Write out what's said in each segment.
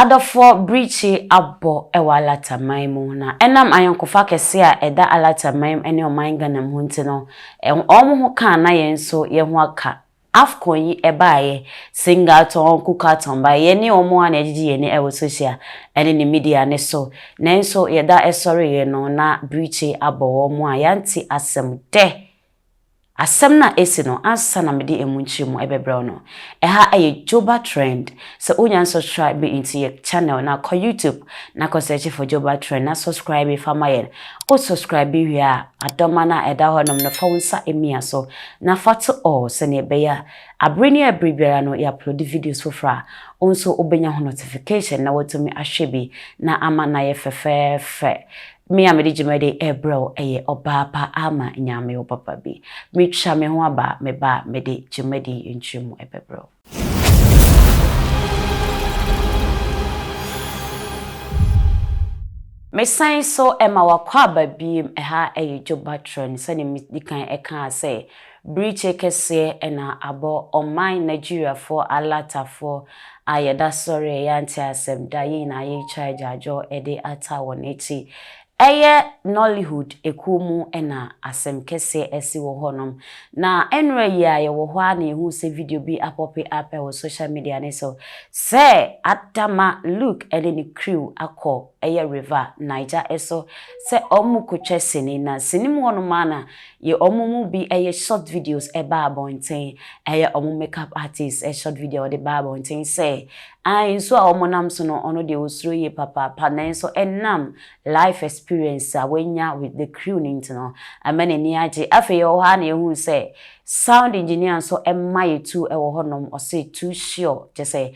Adɔfoɔ birikyi abɔ wɔ Alata man mu na ɛnam ayɔnkofa kɛseɛ a ɛda Alata man ne ɔman Ghana mu nti no, wɔn ho ka a na yɛn nso yɛn ho aka. Afcon yi ɛbaeɛ, Singatɔn, Kukatɔn baeɛ, yɛne wɔn ara na yɛgyegye yɛn ani wɔ social ne ne media no so, nanso yɛda ɛsɔreeɛ no na birikyi abɔ wɔn a yɛante asɛm dɛ. Asɛm no a esi no ansa na mede emu nkyerɛmu ɛbɛbrɛ wo no, ɛha ɛyɛ Joba Trend, sɛ wonya nsubscribe me nti yɛ channel no a kɔ YouTube na kɔ search for Joba Trend na subscribe fa ma yɛn, wo subscribe wie a adɔma no a ɛda hɔ nom no fa wo nsa mia so na fa to all sɛnea ɛbɛyɛ a abere ne abere biara no yɛ upload videos foforɔ a wo nso wobɛnya ho notification na woatumi ahwɛ bi na ama no ayɛ fɛfɛɛfɛ. Me a mede dwumadi rebrɛ wo yɛ ɔbaa pa ara ma Nyame, wo papa bi. Metwa me ho aba, me ba a mede dwumadi yi nkyerɛmu bɛbrɛ wo. Mesan nso ma w'akwaaba biem, ɛha yɛ Dwoba Trend, sɛdeɛ medi kan kaa sɛ, Birikye kɛseɛ na abɔ ɔman Nigeriafoɔ alatafoɔ a yɛda sɔreɛ yɛante asɛm da yɛn nyinaa yɛretwa agyaadwoɔ de ata wɔn akyi. Ɛyɛ Nollyhood ekuo mu na asɛm kɛseɛ asi wɔ hɔnom. Na ɛnora yi ara yɛwɔ hɔ ara na yɛhuu sɛ video bi apɔpe up wɔ social media no so sɛ Adama Luke ne ne crew akɔ ɛyɛ river Niger so sɛ wɔrekɔtwa sini. Na sini mu hɔnom ara na Ye ɔmo mu bi ɛyɛ short videos ɛba abɔnten ɛyɛ ɔmo makeup artist ɛ short video a ɔde ba abɔnten sɛ ae nsuo a ɔmo nam so no ɔno deɛ ɔsuro yie papaapa nanso ɛnam life experience a wanya with the crew no nti no ɛma n'ani agye afei yɛwɔ hɔ ara na yɛhunu sɛ sound engineer nso ɛma yɛtu ɛwɔ hɔ nom ɔse too sure kyɛsɛ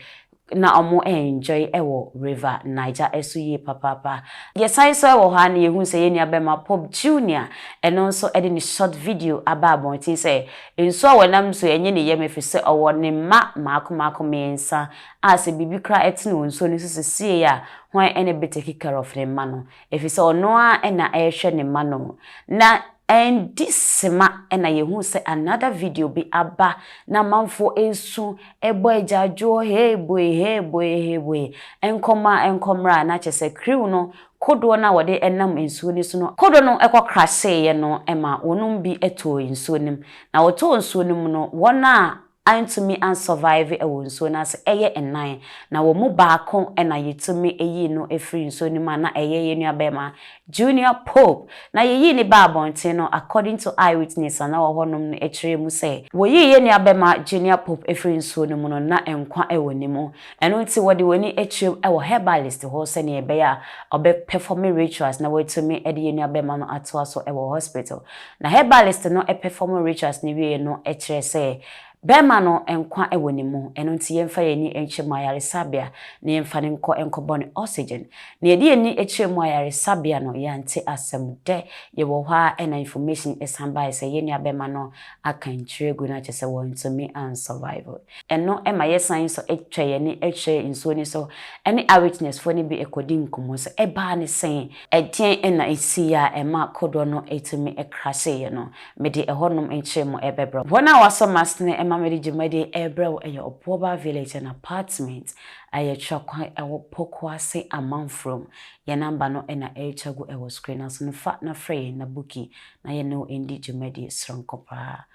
na ɔmo enjoy wɔ river Niger so yie papaapa. Yɛsan nso wɔ hɔ a na yɛhunu sɛ yɛn nua bɛma Pope Junior ɛno nso de ne short video aba abɔnten sɛ nsuo a wɔnam so ɛnye ne yam ɛfiri sɛ ɔwɔ ne mma maako maako mmiɛnsa a sɛ biribi koraa ɛtene wɔ nsuo no so sesiei a hwan ɛna bɛtake care of ne mma no Efisɛ ɔno ara na ɛrehwɛ ne mma no. Na ɛndi sima na yɛhuu sɛ another video bi aba na amanfoɔ resu rebɔ agyaadwoɔ hee boe hee boe hee boe, nkɔma nkɔmmra a na kyerɛ sɛ kriw no kodoɔ no a wɔde nam nsuo no so no, kodoɔ no kɔ crasheeɛ no ma wɔnom bi tɔɔ nsuo no mu. Na wɔtɔɔ nsuo no mu no, wɔn a antumi an survive ɛwɔ nsuo no ase ɛyɛ nnan na wɔn mu baako na yɛtumi yii no firi nsuo no mu a na ɛyɛ yɛn nua barima Junior Pope na yɛyii no baa abɔnten no according to eye witness a na wɔ hɔ nom no ɛkyerɛɛ mu sɛ wɔyii yɛn nua barima Junior Pope firi nsuo no mu no na nkwa wɔ ne mu. Ɛno nti wɔde wɔn ani akyerɛm wɔ herbalist hɔ sɛnea ɛbɛyɛ a ɔbɛ pɛfɔme rituals na wɔatumi de yɛn nua bɛrima no atoa so wɔ hospital. Na herbalist no pɛfɔmo rituals no wieɛ no kyerɛ sɛ bɛrima no nkwa wɔ ne mu. Ɛno nti yɛmfa yɛn ani nkyerɛ mu ayaresabea na yɛmfa no nkɔ nkɔbɔ no oxygen. Na yɛde yɛn ani kyerɛɛ mu ayaresabea no yɛante asɛm. Dɛ yɛwɔ hɔ ara na information san baeɛ sɛ yɛn nua bɛrima no aka nkyerɛ agu no akyɛ sɛ wɔntumi an survive. Ɛno ma yɛsan so twa yɛn ani kyerɛ nsuo no so ne Eyewitness foɔ no bi kɔdi nkɔmmɔ sɛ ɛbaa ne sɛn? Ɛdeɛn na ɛsiiɛ a ɛma kodoɔ no tumi crasheeɛ no? Mede ɛhɔnom nkyere mo bɛbrɛ wo. Wɔn a wɔasɔ m'asene ma mede dwumadie rebrɛ wo yɛ Obuoba Village and Apartment a ɛyɛ twerɛ kwan wɔ Pokuase Amanfurom. Yɛn number no na ɛretwa gu wɔ screen no so no, fa na frɛ yɛn na buki na yɛne wo ndi dwumadie soronko paa.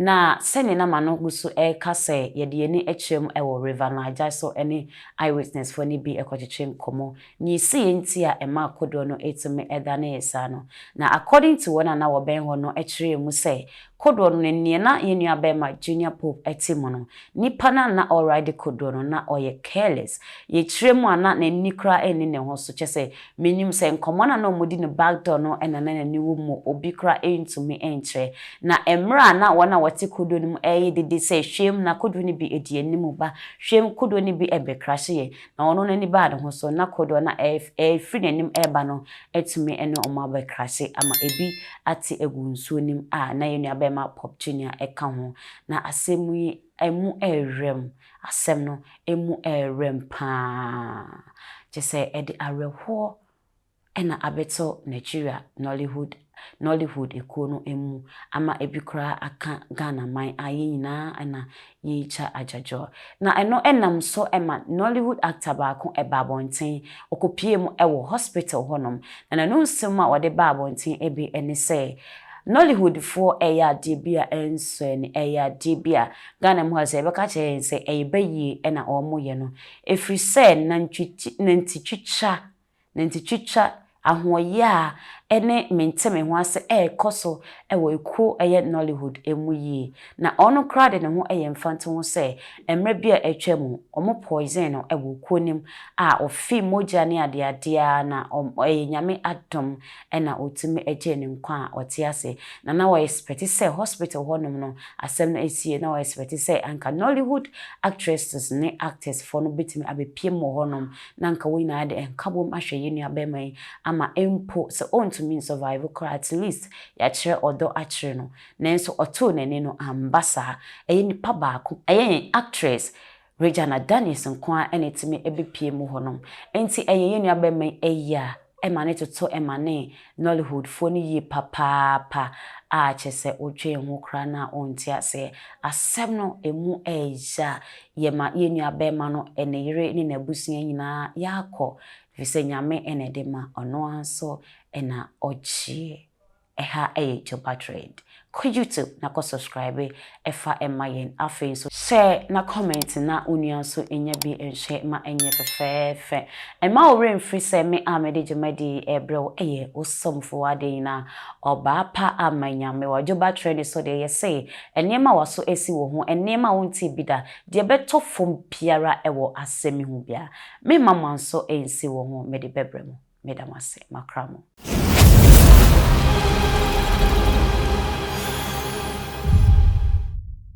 Na sɛdeɛ na m'ano gu so reka sɛ yɛde yɛn ani kyerɛ mu wɔ River Niger so ne Eyewitnessfoɔ no bi kɔtwetwe nkɔmmɔ, deɛ ɛsiiɛ nti a ɛmaa kodoɔ no tumi danee saa no. Na according to wɔn a na wɔbɛn hɔ no kyerɛɛ mu sɛ kodoɔ no ne deɛ na yɛn nuabarima Junior Pope te mu no, Nipa no a na ɔride kodoɔ no na ɔyɛ careless, yɛkyerɛ mu a na n'ani koraa nni ne ho so, kyerɛ sɛ menim sɛ nkɔmmɔ no a na wɔdi no back door no na na n'ani wɔ mu, obi koraa ntumi nkyerɛ. Na mmerɛ a na wɔn a wɔte kodoɔ no mu reyɛ dede sɛ hweem na kodoɔ no bi di anim ba, hweem kodoɔ no bi bɛkrahye yɛ, na ɔno n'ani baa ne ho so, na kodoɔ no a ɛrefiri n'anim reba no atumi ne wɔn abɛkrahye ama ɛbi ate agu nsuo no mu a na yɛn nuabɛɛma Pope Junior ka ho, Na asɛm yi mu ɛrem, asɛm no mu ɛrem paa, kyesɛ ɛde awerɛhoɔ na abɛto Nigeria Nollyhood Nollywood ekuo no mu ama ebi koraa aka Ghana man a yɛn nyinaa na yɛretwa adwadwoɔ. Na ɛno nam so ma Nollywood actor baako baa abɔnten, ɔkɔpuee mu wɔ hospital hɔnom, na n'anonsɛm a ɔde baa abɔnten bi ne sɛ, Nollywoodfoɔ ɛyɛ adeɛ bi a ɛnsɔ ani, ɛyɛ adeɛ bi a Ghana mu ha sɛ yɛbɛka akyerɛ yɛn sɛ ɛyɛ bayie ɛna wɔyɛ no. Ɛfiri sɛ nantwi ti, nanti twitwa, nanti twitwa, ahoɔyaa ɛne mente me ho ase ɛrekɔ so ɛwɔ ɛkuo ɛyɛ Nollywood ɛmu yie. Na ɔno koraa de ne ho ɛyɛ mfante ho sɛ mmerɛ bi a atwa mu wɔn poison no ɛwɔ kuo no mu a ɔfee mogya ne adeadeɛ a na wɔn ɛyɛ Nyame adom na otumi gyee ne nkwa a ɔte ase. Na na wɔyɛ spɛte sɛ hospital hɔnom no asɛm no asie, na wɔyɛ spɛte sɛ anka Nollywood actresses ne actors foɔ no bɛtumi abɛpiem wɔ hɔnom na anka wɔn nyinaa de nkabom ahwɛ yɛn nua barima yi ama mpo sɛ ɔntumi nsɔvaive koraa at least yɛakyerɛ ɔdɔ akyere no. Nanso ɔtoo n'ani no, amba saa. Ɛyɛ nipa baako, ɛyɛ yɛn actress Regina Danis nko ara na etumi bepue mu hɔnom. Enti ɛyɛ yɛn nuabarima yi ayi a ɛma ne toto mane Nollyhoodfoɔ no yie papaapa a kyerɛ sɛ wodwen ho koraa no a wonte aseɛ. Asɛm no ɛmu ɛyɛ ya. Yɛma yɛn nuabarima no, ne yere ne n'abusua nyinaa yɛakɔ efisɛ Nyame na ɛde ma, ɔno ara nso na ɔgyeɛ. Ɛha yɛ Joba Trend. Kɔ YouTube na kɔ subscribe fa ma yɛn. Afei nso. Share na comment na wo nua nso nya bi nhwɛ ma ɛnyɛ fɛfɛɛfɛ. Mma wo werɛ mfiri sɛ me a mede dwumadi yi rebrɛ wo yɛ wo somfo, w'adenyina, ɔbaa pa ama Nyame. Wɔ Joba Trend so deɛ yɛse nneɛma a w'aso asi wo ho, nneɛma a wontee bi da, deɛ ɛbɛtɔ fam biara wɔ asɛm yi ho biara, meremma mo anso ansi wo ho, mede bɛbrɛ mo. Meda mo ase, makra mo.